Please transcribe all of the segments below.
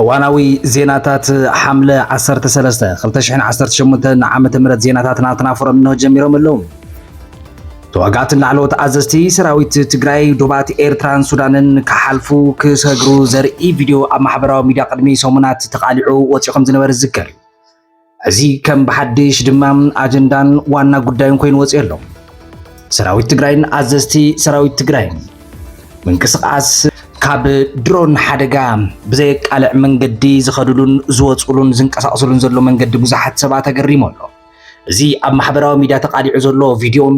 እዋናዊ ዜናታት ሓምለ ዓሰርተ ሰለስተ ክልተ ሽሕን ዓሰርተ ሸሞንተን ዓመተ ምህረት ዜናታት ናትና ፎረም እንሆ ጀሚሮም ኣለዉ። ተዋጋእትን ላዕለዎት ኣዘዝቲ ሰራዊት ትግራይ ዶባት ኤርትራን ሱዳንን ክሓልፉ ክሰግሩ ዘርኢ ቪድዮ ኣብ ማሕበራዊ ሚድያ ቅድሚ ሰሙናት ተቓሊዑ ወፂኡ ከም ዝነበረ ዝዝከር እዩ። እዚ ከም ብሓድሽ ድማ ኣጀንዳን ዋና ጉዳዩን ኮይኑ ወፂኦ ኣሎ። ሰራዊት ትግራይን ኣዘዝቲ ሰራዊት ትግራይን ምንቅስቓስ ካብ ድሮን ሓደጋ ብዘየቃልዕ መንገዲ ዝኸድሉን ዝወፅሉን ዝንቀሳቀስሉን ዘሎ መንገዲ ብዙሓት ሰባት ኣገሪሙ ኣሎ። እዚ ኣብ ማሕበራዊ ሚዲያ ተቃሊዑ ዘሎ ቪድዮን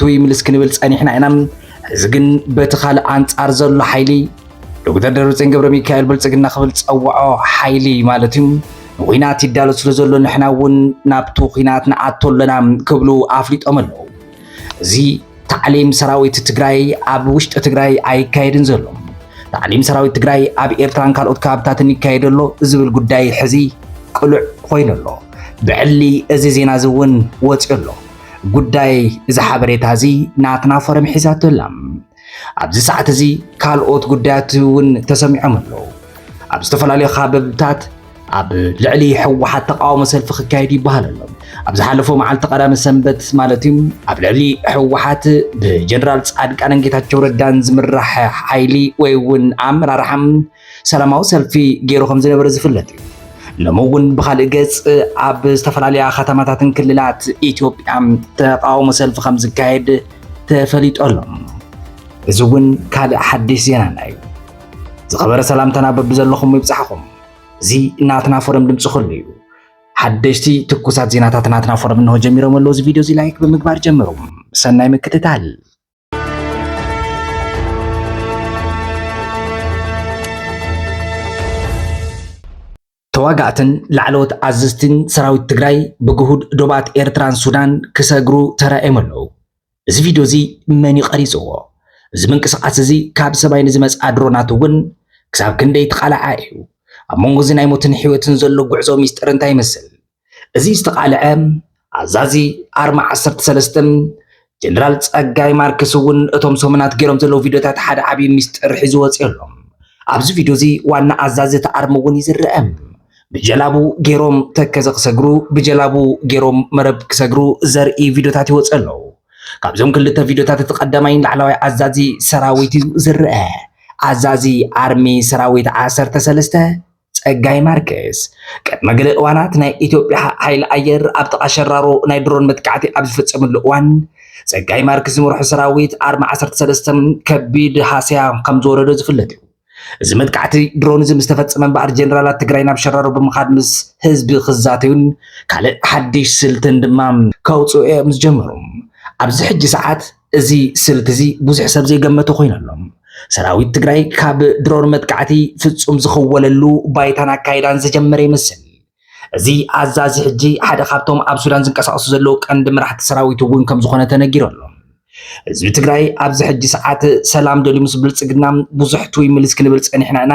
ትይ ምልስ ክንብል ጸኒሕና ኢና። ሕዚ ግን በቲ ካልእ ኣንጻር ዘሎ ሓይሊ ዶክተር ደብረጽዮን ገብረ ሚካኤል ብልጽግና ክብል ጸውዖ ሓይሊ ማለት እዩ ንኹናት ይዳሎ ስለ ዘሎ ንሕና እውን ናብቲ ኩናት ንኣቶ ኣለና ክብሉ ኣፍሊጦም ኣለዉ። እዚ ታዕሊም ሰራዊት ትግራይ ኣብ ውሽጢ ትግራይ ኣይካየድን ዘሎ ታዕሊም ሰራዊት ትግራይ ኣብ ኤርትራን ካልኦት ከባብታትን ይካየድ ኣሎ ዝብል ጉዳይ ሕዚ ቅሉዕ ኮይኑ ኣሎ። ብዕሊ እዚ ዜና እዚ እውን ወፂኡ ኣሎ። ጉዳይ እዚ ሓበሬታ እዚ ናትና ፎረም ሒዛቶ ኣላ። ኣብዚ ሰዓት እዚ ካልኦት ጉዳያት እውን ተሰሚዖም ኣለዉ። ኣብ ዝተፈላለዩ ካበብታት ኣብ ልዕሊ ህወሓት ተቃውሞ ሰልፊ ክካየድ ይበሃል ኣሎ። ኣብ ዝሓለፈ መዓልቲ ቀዳመ ሰንበት ማለት እዩ ኣብ ልዕሊ ህወሓት ብጀነራል ፃድቃንን ጌታቸው ረዳን ዝምራሕ ሓይሊ ወይ እውን ኣመራርሓ ሰላማዊ ሰልፊ ገይሩ ከም ዝነበረ ዝፍለጥ እዩ። ሎሚ እውን ብካልእ ገጽ ኣብ ዝተፈላለያ ከተማታትን ክልላት ኢትዮጵያ ተቃውሞ ሰልፊ ከም ዝካየድ ተፈሊጡ ኣሎ። እዚ እውን ካልእ ሓድሽ ዜናና እዩ። ዝኸበረ ሰላምታና በብዘለኹም ይብጻሕኹም። እዚ ናትና ፎረም ድምፂ ኩሉ እዩ። ሓደሽቲ ትኩሳት ዜናታት ናትና ፎረም እንሆ ጀሚሮም ኣለዉ። እዚ ቪድዮ እዚ ላይክ ብምግባር ጀምሩ። ሰናይ ምክትታል ተዋጋእትን ላዕለዎት ኣዘዝትን ሰራዊት ትግራይ ብግሁድ ዶባት ኤርትራን ሱዳን ክሰግሩ ተራእዮም ኣለዉ። እዚ ቪድዮ እዚ መን እዩ ቀሪፅዎ? እዚ ምንቅስቓስ እዚ ካብ ሰማይ ንዝመፅኣ ድሮናት እውን ክሳብ ክንደይ ተቓላዓ እዩ? ኣብ መንጎ እዚ ናይ ሞትን ሕይወትን ዘሎ ጉዕዞ ሚስጥር እንታይ ይመስል? እዚ ዝተቓልዐ ኣዛዚ ኣርማ ዓሰርተ ሰለስተ ጀነራል ጸጋይ ማርክስ እውን እቶም ሰሙናት ገይሮም ዘለዉ ቪድዮታት ሓደ ዓብዪ ሚስጥር ሒዙ ወፂኡ ኣሎ። ኣብዚ ቪድዮ እዚ ዋና ኣዛዚ እቲ ኣርሚ እውን እዩ ዝረአ። ብጀላቡ ገይሮም ተከዘ ክሰግሩ ብጀላቡ ገይሮም መረብ ክሰግሩ ዘርኢ ቪድዮታት ይወፅ ኣለዉ ካብዞም ክልተ ቪድዮታት እቲ ቀዳማይ ላዕለዋይ ኣዛዚ ሰራዊት እዩ ዝረአ ኣዛዚ ኣርሚ ሰራዊት ዓሰርተ ሰለስተ ጸጋይ ማርኬስ ቅድሚ ገለ እዋናት ናይ ኢትዮጵያ ሓይሊ ኣየር ኣብ ጥቓ ሸራሮ ናይ ድሮን መጥቃዕቲ ኣብ ዝፍጸመሉ እዋን ጸጋይ ማርክስ ዝመርሖ ሰራዊት ኣርሚ 13 ከቢድ ሃስያ ከም ዝወረዶ ዝፍለጥ እዩ። እዚ መጥቃዕቲ ድሮን እዚ ምስ ተፈጸመ እምበኣር ጀነራላት ትግራይ ናብ ሸራሮ ብምኻድ ምስ ህዝቢ ክዛተዩን ካልእ ሓድሽ ስልትን ድማ ከውፅኡ እዮም ዝጀመሩ። ኣብዚ ሕጂ ሰዓት እዚ ስልቲ እዚ ብዙሕ ሰብ ዘይገመቶ ኮይኑ ኣሎ። ሰራዊት ትግራይ ካብ ድሮን መጥቃዕቲ ፍጹም ዝኽወለሉ ባይታን ኣካይዳን ዝጀመረ ይመስል። እዚ ኣዛዚ ሕጂ ሓደ ካብቶም ኣብ ሱዳን ዝንቀሳቐሱ ዘለዉ ቀንዲ መራሕቲ ሰራዊት እውን ከም ዝኾነ ተነጊሩ ኣሎ። ህዝቢ ትግራይ ኣብዚ ሕጂ ሰዓት ሰላም ደልዩ ምስ ብልጽግና ብዙሕ ትውይ ምልስ ክንብል ጸኒሕና ኢና።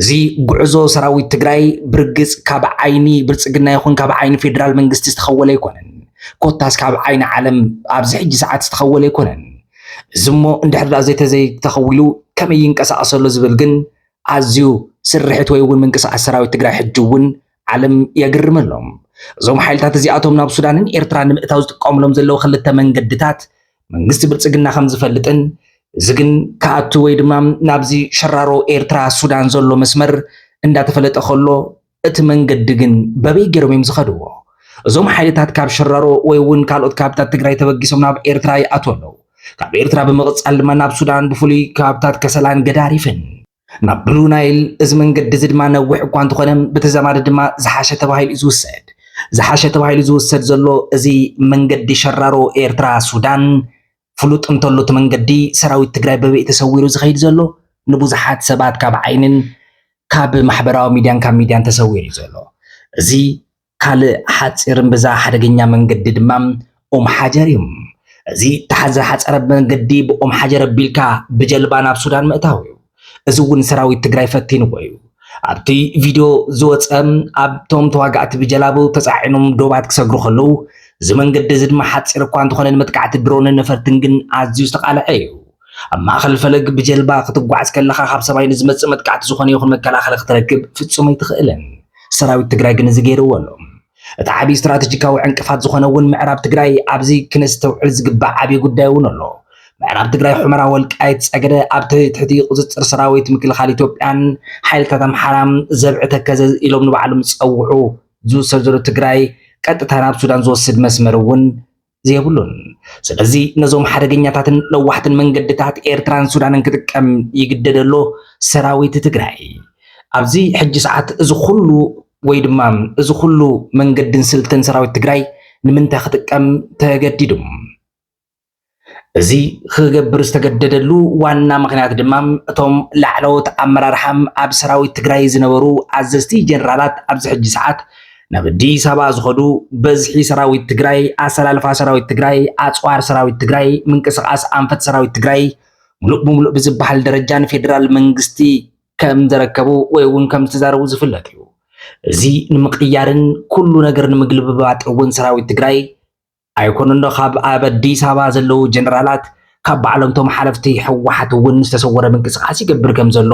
እዚ ጉዕዞ ሰራዊት ትግራይ ብርግፅ ካብ ዓይኒ ብልፅግና ይኹን ካብ ዓይኒ ፌዴራል መንግስቲ ዝተኸወለ ኣይኮነን። ኮታስ ካብ ዓይኒ ዓለም ኣብዚ ሕጂ ሰዓት ዝተኸወለ ኣይኮነን። እዚ እሞ እንድሕር ደኣ ዘይተዘይተኸዊሉ ከመይ ይንቀሳቐስ ኣሎ ዝብል ግን ኣዝዩ ስርሒት ወይ እውን ምንቅስቓስ ሰራዊት ትግራይ ሕጂ እውን ዓለም የግርም ኣሎ። እዞም ሓይልታት እዚኣቶም ናብ ሱዳንን ኤርትራን ንምእታው ዝጥቀሙሎም ዘለዉ ክልተ መንገድታት መንግስቲ ብልጽግና ከም ዝፈልጥን እዚ ግን ክኣቱ ወይ ድማ ናብዚ ሸራሮ ኤርትራ ሱዳን ዘሎ መስመር እንዳተፈለጠ ከሎ እቲ መንገዲ ግን በበይ ገይሮም እዮም ዝኸድዎ? እዞም ሓይልታት ካብ ሸራሮ ወይ እውን ካልኦት ካብታት ትግራይ ተበጊሶም ናብ ኤርትራ ይኣትዉ ኣለዉ። ካብ ኤርትራ ብምቕጻል ድማ ናብ ሱዳን ብፍሉይ ከባብታት ከሰላን ገዳሪፍን። ናብ ብሉ ናይል እዚ መንገዲ እዚ ድማ ነዊሕ እኳ እንተኾነ ብተዛማዲ ድማ ዝሓሸ ተባሂሉ እዩ ዝውሰድ። ዝሓሸ ተባሂሉ ዝውሰድ ዘሎ እዚ መንገዲ ሸራሮ ኤርትራ ሱዳን ፍሉጥ እንተሎ እቲ መንገዲ ሰራዊት ትግራይ በበይ ተሰዊሩ ዝኸይድ ዘሎ ንብዙሓት ሰባት ካብ ዓይንን ካብ ማሕበራዊ ሚድያን ካብ ሚድያን ተሰዊሩ እዩ ዘሎ እዚ ካልእ ሓጺር እምብዛ ሓደገኛ መንገዲ ድማ ኡም ሓጀር እዩ። እዚ እታ ዝሓጸረ መንገዲ ብኡም ሓጀር ኣቢልካ ብጀልባ ናብ ሱዳን ምእታው እዩ። እዚ እውን ሰራዊት ትግራይ ፈቲንዎ እዩ። ኣብቲ ቪድዮ ዝወጸ ኣብቶም ተዋጋእቲ ብጀላቡ ተጻዒኖም ዶባት ክሰግሩ ከለዉ እዚ መንገዲ እዚ ድማ ሓጺር እኳ እንተኾነ ንመጥቃዕቲ ድሮንን ነፈርትን ግን ኣዝዩ ዝተቓልዐ እዩ። ኣብ ማእከል ፈለግ ብጀልባ ክትጓዓዝ ከለኻ ካብ ሰማይ ንዝመጽእ መጥቃዕቲ ዝኾነ ይኹን መከላኸሊ ክትረክብ ፍጹም ኣይትኽእልን። ሰራዊት ትግራይ ግን እዚ ገይርዎ ኣሎ። እቲ ዓብዪ ስትራቴጂካዊ ዕንቅፋት ዝኾነ እውን ምዕራብ ትግራይ ኣብዚ ክነስተውዕል ዝግባእ ዓብዪ ጉዳይ እውን ኣሎ። ምዕራብ ትግራይ ሑመራ፣ ወልቃይት፣ ጸገደ ኣብ ትሕቲ ቁጽጽር ሰራዊት ምክልኻል ኢትዮጵያን ሓይልታት ኣምሓራን ዘብዒ ተከዘ ኢሎም ንባዕሎም ዝጸውዑ ዝውሰድ ዘሎ ትግራይ ቀጥታ ናብ ሱዳን ዝወስድ መስመር እውን የብሉን። ስለዚ ነዞም ሓደገኛታትን ለዋሕትን መንገድታት ኤርትራን ሱዳንን ክጥቀም ይግደድ ኣሎ ሰራዊት ትግራይ። ኣብዚ ሕጂ ሰዓት እዚ ኩሉ ወይ ድማ እዚ ኩሉ መንገድን ስልትን ሰራዊት ትግራይ ንምንታይ ክጥቀም ተገዲዱ? እዚ ክገብር ዝተገደደሉ ዋና ምክንያት ድማ እቶም ላዕለዎት ኣመራርሓም ኣብ ሰራዊት ትግራይ ዝነበሩ ኣዘዝቲ ጀነራላት ኣብዚ ሕጂ ሰዓት ናብ ኣዲስ ኣበባ ዝኸዱ በዝሒ ሰራዊት ትግራይ፣ ኣሰላልፋ ሰራዊት ትግራይ፣ ኣፅዋር ሰራዊት ትግራይ፣ ምንቅስቓስ ኣንፈት ሰራዊት ትግራይ ሙሉእ ብሙሉእ ብዝበሃል ደረጃ ንፌዴራል መንግስቲ ከም ዘረከቡ ወይ እውን ከም ዝተዛረቡ ዝፍለጥ እዩ። እዚ ንምቅያርን ኩሉ ነገር ንምግልብባጥ እውን ሰራዊት ትግራይ ኣይኮኑንዶ ካብ ኣብ ኣዲስ ኣበባ ዘለዉ ጀነራላት ካብ ባዕሎምቶም ሓለፍቲ ህወሓት እውን ዝተሰወረ ምንቅስቓስ ይገብር ከም ዘሎ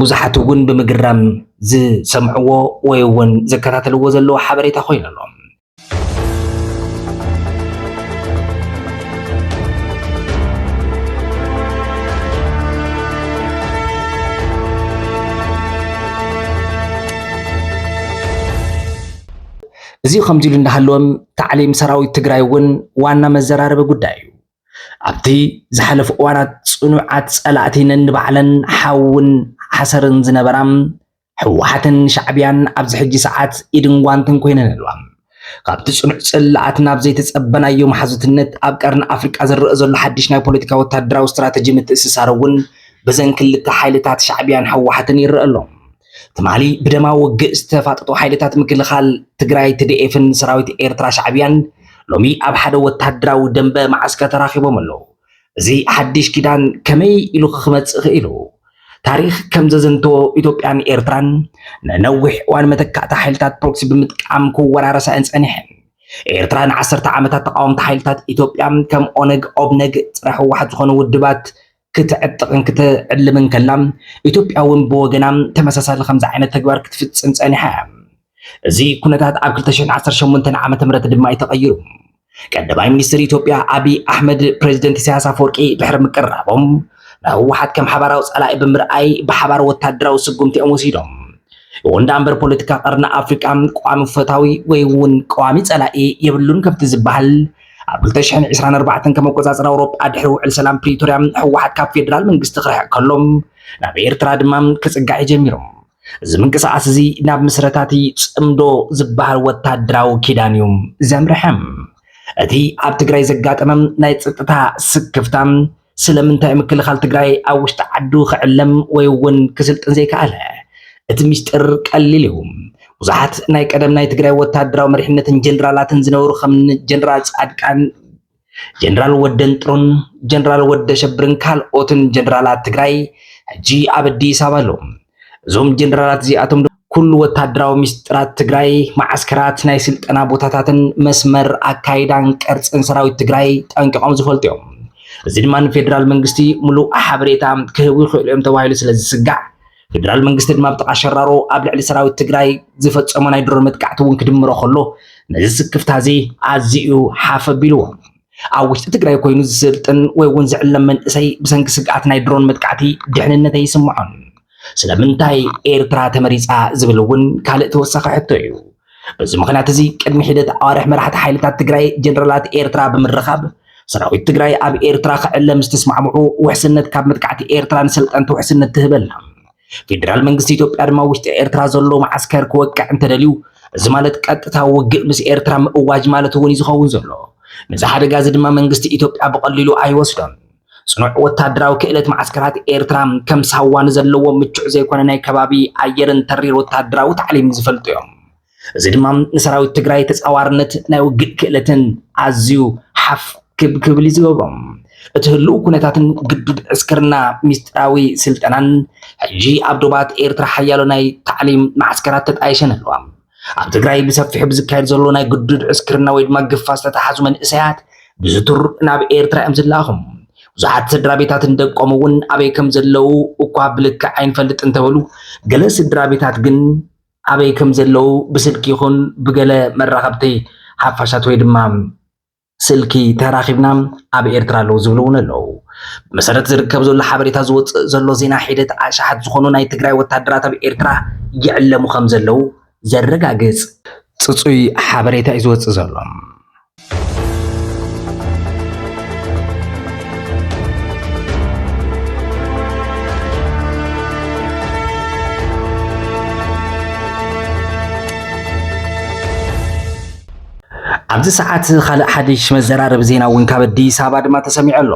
ብዙሓት እውን ብምግራም ዝሰምዕዎ ወይ እውን ዝከታተልዎ ዘለዎ ሓበሬታ ኮይኑ ኣሎ። እዚ ከምዚ ኢሉ እንዳሃለወ ታዕሊም ሰራዊት ትግራይ እውን ዋና መዘራረቢ ጉዳይ እዩ። ኣብቲ ዝሓለፉ እዋናት ፅኑዓት ፀላእቲ ነንባዕለን ሓውን ሓሰርን ዝነበራ ህወሓትን ሻዕቢያን ኣብዚ ሕጂ ሰዓት ኢድን ጓንትን ኮይነን ኣለዋ። ካብቲ ፅኑዕ ፅላኣት ናብ ዘይተፀበናዮ መሓዙትነት ኣብ ቀርኒ ኣፍሪቃ ዝረኣ ዘሎ ሓድሽ ናይ ፖለቲካ ወታደራዊ ስትራተጂ ምትእስሳር እውን ብዘን ክልተ ሓይልታት ሻዕቢያን ህወሓትን ይረኣ ኣሎ። ትማሊ ብደማዊ ውግእ ዝተፋጠጡ ሓይልታት ምክልኻል ትግራይ ትድኤፍን ሰራዊት ኤርትራ ሻዕብያን ሎሚ ኣብ ሓደ ወተሃደራዊ ደንበ ማዓስከር ተራኺቦም ኣለዉ። እዚ ሓድሽ ኪዳን ከመይ ኢሉ ክመጽእ ክኢሉ? ታሪኽ ከም ዘዘንተዎ ኢትዮጵያን ኤርትራን ንነዊሕ እዋን መተካእታ ሓይልታት ፕሮክሲ ብምጥቃም ክወራረሳ እየን ጸኒሐን። ኤርትራ ንዓሰርተ ዓመታት ተቃወምቲ ሓይልታት ኢትዮጵያ ከም ኦነግ፣ ኦብነግ፣ ጸረ ህወሓት ዝኾኑ ውድባት ክትዕጥቕን ክትዕልምን ከላ፣ ኢትዮጵያ እውን ብወገና ተመሳሳሊ ከምዚ ዓይነት ተግባር ክትፍጽም ጸኒሓ እያ። እዚ ኩነታት ኣብ ክልተ ሽሕን ዓሰርተ ሸሞንተን ዓመተ ምህረት ድማ እዩ ተቐይሩ። ቀዳማይ ሚኒስትር ኢትዮጵያ ኣቢይ ኣሕመድ ፕረዚደንት ኢሳያስ ኣፈወርቂ ድሕሪ ምቅርራቦም፣ ንህወሓት ከም ሓባራዊ ጸላኢ ብምርኣይ ብሓባር ወተሃደራዊ ስጉምቲ እዮም ወሲዶም። ይኹን ደኣ እምበር ፖለቲካ ቀርኒ ኣፍሪቃ ቋሚ ፈታዊ ወይ እውን ቀዋሚ ጸላኢ የብሉን ከምቲ ዝበሃል፣ ኣብ ክልተ ሽሕን ዕስራን ኣርባዕተን ከም ኣቆጻጽራ ኣውሮጳ ድሕሪ ውዕል ሰላም ፕሪቶርያ ህወሓት ካብ ፌደራል መንግስቲ ክርሕቕ ከሎ ናብ ኤርትራ ድማ ክጽጋዕ እዩ ጀሚሩ። እዚ ምንቅስቓስ እዚ ናብ ምስረታቲ ጽምዶ ዝበሃል ወታደራዊ ኪዳን እዩ ዘምርሐ። እቲ ኣብ ትግራይ ዘጋጠመ ናይ ጸጥታ ስክፍታ ስለምንታይ ምክልኻል ትግራይ ኣብ ውሽጢ ዓዱ ክዕለም ወይ እውን ክስልጥን ዘይከኣለ? እቲ ሚስጢር ቀሊል እዩ። ብዙሓት ናይ ቀደም ናይ ትግራይ ወታደራዊ መሪሕነትን ጀነራላትን ዝነበሩ ከምኒ ጀነራል ፃድቃን፣ ጀነራል ወደንጥሩን ጀነራል ወደሸብርን ካልኦትን ጀነራላት ትግራይ ሕጂ ኣብ ኣዲስ ኣበባ ኣለዉ። እዞም ጀነራላት እዚኣቶም ኩሉ ወታደራዊ ሚስጥራት ትግራይ፣ መዓስከራት፣ ናይ ስልጠና ቦታታትን መስመር ኣካይዳን ቅርፅን ሰራዊት ትግራይ ጠንቂቖም ዝፈልጡ እዮም። እዚ ድማ ንፌዴራል መንግስቲ ሙሉእ ሓበሬታ ክህቡ ይኽእሉ እዮም ተባሂሉ ስለ ዝስጋዕ ፌዴራል መንግስቲ ድማ ብጥቓ ሸራሮ ኣብ ልዕሊ ሰራዊት ትግራይ ዝፈፀሞ ናይ ድሮን መጥቃዕቲ እውን ክድምሮ ከሎ ነዚ ስክፍታ እዚ ኣዝዩ ሓፍ ኣቢልዎ። ኣብ ውሽጢ ትግራይ ኮይኑ ዝስልጥን ወይ እውን ዝዕለም መንእሰይ ብሰንኪ ስግኣት ናይ ድሮን መጥቃዕቲ ድሕንነት ኣይስምዖን። ስለምንታይ ኤርትራ ተመሪጻ ዝብል እውን ካልእ ተወሳኺ ሕቶ እዩ። በዚ ምኽንያት እዚ ቅድሚ ሒደት ኣዋርሕ መራሕቲ ሓይልታት ትግራይ ጀነራላት ኤርትራ ብምርኻብ ሰራዊት ትግራይ ኣብ ኤርትራ ክዕለ ምስ ተስማዕምዑ ውሕስነት ካብ መጥቃዕቲ ኤርትራ ንሰልጠንቲ ውሕስነት ትህበና ፌደራል መንግስቲ ኢትዮጵያ ድማ ውሽጢ ኤርትራ ዘሎ መዓስከር ክወቅዕ እንተደልዩ እዚ ማለት ቀጥታ ውግእ ምስ ኤርትራ ምእዋጅ ማለት እውን እዩ ዝኸውን ዘሎ። ነዚ ሓደጋ እዚ ድማ መንግስቲ ኢትዮጵያ ብቐሊሉ ኣይወስዶን። ጽኑዕ ወታደራዊ ክእለት መዓስከራት ኤርትራ ከም ሳዋ ንዘለዎም ምቹዕ ዘይኮነ ናይ ከባቢ ኣየርን ተሪር ወታደራዊ ታዕሊምን ዝፈልጡ እዮም። እዚ ድማ ንሰራዊት ትግራይ ተፃዋርነት ናይ ውግእ ክእለትን ኣዝዩ ሓፍ ክብ ክብል እዩ ዝገብሮም። እቲ ህልው ኩነታትን ግዱድ ዕስክርና ሚስጥራዊ ስልጠናን ሕጂ ኣብ ዶባት ኤርትራ ሓያሎ ናይ ታዕሊም መዓስከራት ተጣይሸን ኣለዋ። ኣብ ትግራይ ብሰፊሑ ብዝካየድ ዘሎ ናይ ግዱድ ዕስክርና ወይ ድማ ግፋ ዝተተሓዙ መንእሰያት ብዝቱር ናብ ኤርትራ እዮም ዝለኣኹ። ብዙሓት ስድራ ቤታትን ደቆም እውን ኣበይ ከም ዘለዉ እኳ ብልክዕ ኣይንፈልጥ እንተበሉ ገለ ስድራ ቤታት ግን ኣበይ ከም ዘለዉ ብስልኪ ይኹን ብገለ መራኸብቲ ሓፋሻት ወይ ድማ ስልኪ ተራኺብና ኣብ ኤርትራ ኣለዉ ዝብሉ እውን ኣለዉ። ብመሰረት ዝርከብ ዘሎ ሓበሬታ ዝወፅእ ዘሎ ዜና ሒደት ኣሽሓት ዝኾኑ ናይ ትግራይ ወታደራት ኣብ ኤርትራ ይዕለሙ ከም ዘለዉ ዘረጋግፅ ፅፁይ ሓበሬታ እዩ ዝወፅእ ዘሎ። ኣብዚ ሰዓት ካልእ ሓድሽ መዘራረቢ ዜና እውን ካብ ኣዲስ ኣበባ ድማ ተሰሚዑ ኣሎ።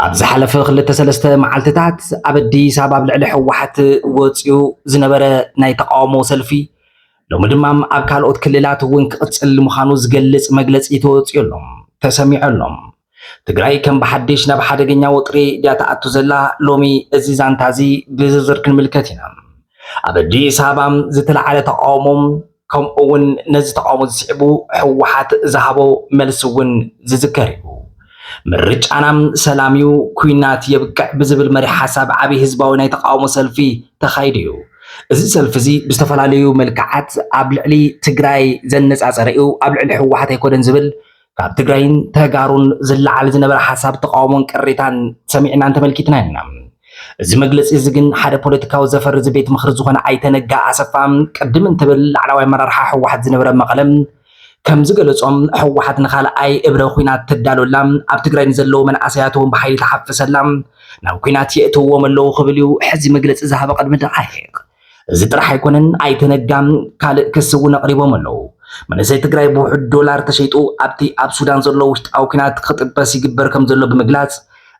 ኣብ ዝሓለፈ ክልተ ሰለስተ መዓልትታት ኣብ ኣዲስ ኣበባ ኣብ ልዕሊ ህወሓት ወፂኡ ዝነበረ ናይ ተቃውሞ ሰልፊ ሎሚ ድማ ኣብ ካልኦት ክልላት እውን ክቕፅል ምዃኑ ዝገልፅ መግለፂ ተወፂኡ ኣሎ ተሰሚዑ ኣሎ። ትግራይ ከም ብሓድሽ ናብ ሓደገኛ ወጥሪ ድያ ትኣቱ ዘላ? ሎሚ እዚ ዛንታ እዚ ብዝርዝር ክንምልከት ኢና። ኣብ ኣዲስ ኣበባ ዝተለዓለ ተቃውሞ ከምኡ እውን ነዚ ተቓውሞ ዝስዕቡ ህወሓት ዝሃቦ መልሲ እውን ዝዝከር እዩ። ምርጫና ሰላም እዩ፣ ኩናት የብቅዕ ብዝብል መሪ ሓሳብ ዓብይ ህዝባዊ ናይ ተቃውሞ ሰልፊ ተኻይዱ እዩ። እዚ ሰልፊ እዚ ብዝተፈላለዩ መልክዓት ኣብ ልዕሊ ትግራይ ዘነፃፀረ እዩ፣ ኣብ ልዕሊ ህወሓት ኣይኮነን ዝብል ካብ ትግራይን ተጋሩን ዝለዓል ዝነበረ ሓሳብ ተቃውሞን ቅሬታን ሰሚዕናን ተመልኪትና ኢና። እዚ መግለፂ እዚ ግን ሓደ ፖለቲካዊ ዘፈር እዚ ቤት ምኽሪ ዝኾነ ኣይተ ነጋ ኣሰፋ ቅድም እንትብል ላዕላዋይ ኣመራርሓ ህወሓት ዝነበረ መቐለ ከም ዝገለፆም ህወሓት ንካልኣይ እብረ ኩናት ትዳሎ ኣላ፣ ኣብ ትግራይ ንዘለዉ መናእሰያት እውን ብሓይሊ ትሓፍስ ኣላ፣ ናብ ኩናት የእትውዎም ኣለዉ ክብል እዩ ሕዚ መግለፂ ዝሃበ ቅድሚ ደቓይቕ። እዚ ጥራሕ ኣይኮነን ኣይተ ነጋ ካልእ ክሲ እውን ኣቕሪቦም ኣለው። መንእሰይ ትግራይ ብውሑድ ዶላር ተሸይጡ ኣብቲ ኣብ ሱዳን ዘሎ ውሽጣዊ ኲናት ክጥበስ ይግበር ከምዘሎ ብምግላፅ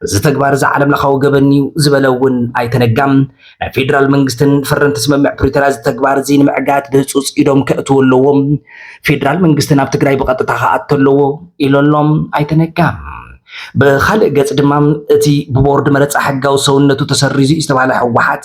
እዚ ተግባር እዚ ዓለም ለኻዊ ገበን እዩ ዝበለ እውን ኣይተ ነጋ ናይ ፌዴራል መንግስትን ፈረምቲ ስምምዕ ፕሪቶሪያ እዚ ተግባር እዚ ንምዕጋት ብህፁፅ ኢዶም ከእትው ኣለዎ ፌዴራል መንግስቲ ናብ ትግራይ ብቐጥታ ክኣቶ ኣለዎ ኢሎ ኣሎ ኣይተ ነጋ። ብኻልእ ገፅ ድማ እቲ ብቦርድ መረፃ ሕጋዊ ሰውነቱ ተሰሪዙ እዩ ዝተባህለ ህወሓት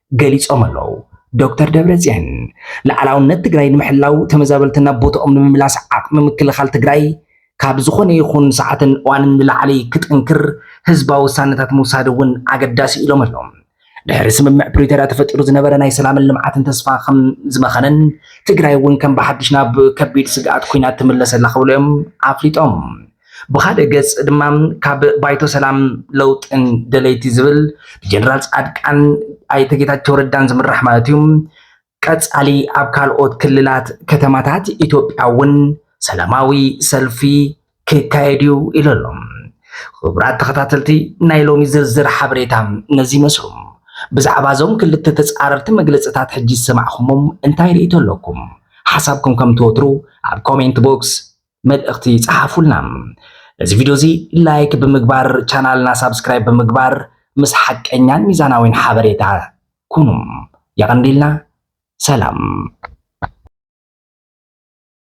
ገሊፆም ኣለው። ዶክተር ደብረፅዮን ልኣላውነት ትግራይ ንምሕላው ተመዛበልቲ ናብ ቦትኦም ንምምላስ ዓቕሚ ምክልኻል ትግራይ ካብ ዝኾነ ይኹን ሰዓትን እዋንን ንላዕሊ ክጥንክር ህዝባዊ ውሳነታት ምውሳድ እውን ኣገዳሲ ኢሎም ኣለው። ድሕሪ ስምምዕ ፕሪቶርያ ተፈጢሩ ዝነበረ ናይ ሰላምን ልምዓትን ተስፋ ከም ዝመኸነን ትግራይ እውን ከም ብሓድሽ ናብ ከቢድ ስግኣት ኩናት ትምለሰላ ክብሉ እዮም ኣፍሊጦም። ብኻልእ ገፅ ድማ ካብ ባይቶ ሰላም ለውጥን ደለይቲ ዝብል ብጀነራል ፃድቃን ኣይተ ጌታቸው ረዳን ዝምራሕ ማለት እዩ ቀፃሊ ኣብ ካልኦት ክልላት ከተማታት ኢትዮጵያ እውን ሰላማዊ ሰልፊ ክካየድ እዩ ኢሉ ኣሎ። ክቡራት ተኸታተልቲ ናይ ሎሚ ዝርዝር ሓበሬታ ነዚ ይመስሉ። ብዛዕባ እዞም ክልተ ተፃረርቲ መግለፅታት ሕጂ ዝሰማዕኹሞም እንታይ ርእይቶ ኣለኩም? ሓሳብኩም ከም ትወትሩ ኣብ ኮሜንት ቦክስ መልእኽቲ ጸሓፉልና። ነዚ ቪድዮ እዚ ላይክ ብምግባር ቻናልና ሳብስክራይብ ብምግባር ምስ ሓቀኛን ሚዛናዊን ሓበሬታ ኩኑ። የቐንዲልና። ሰላም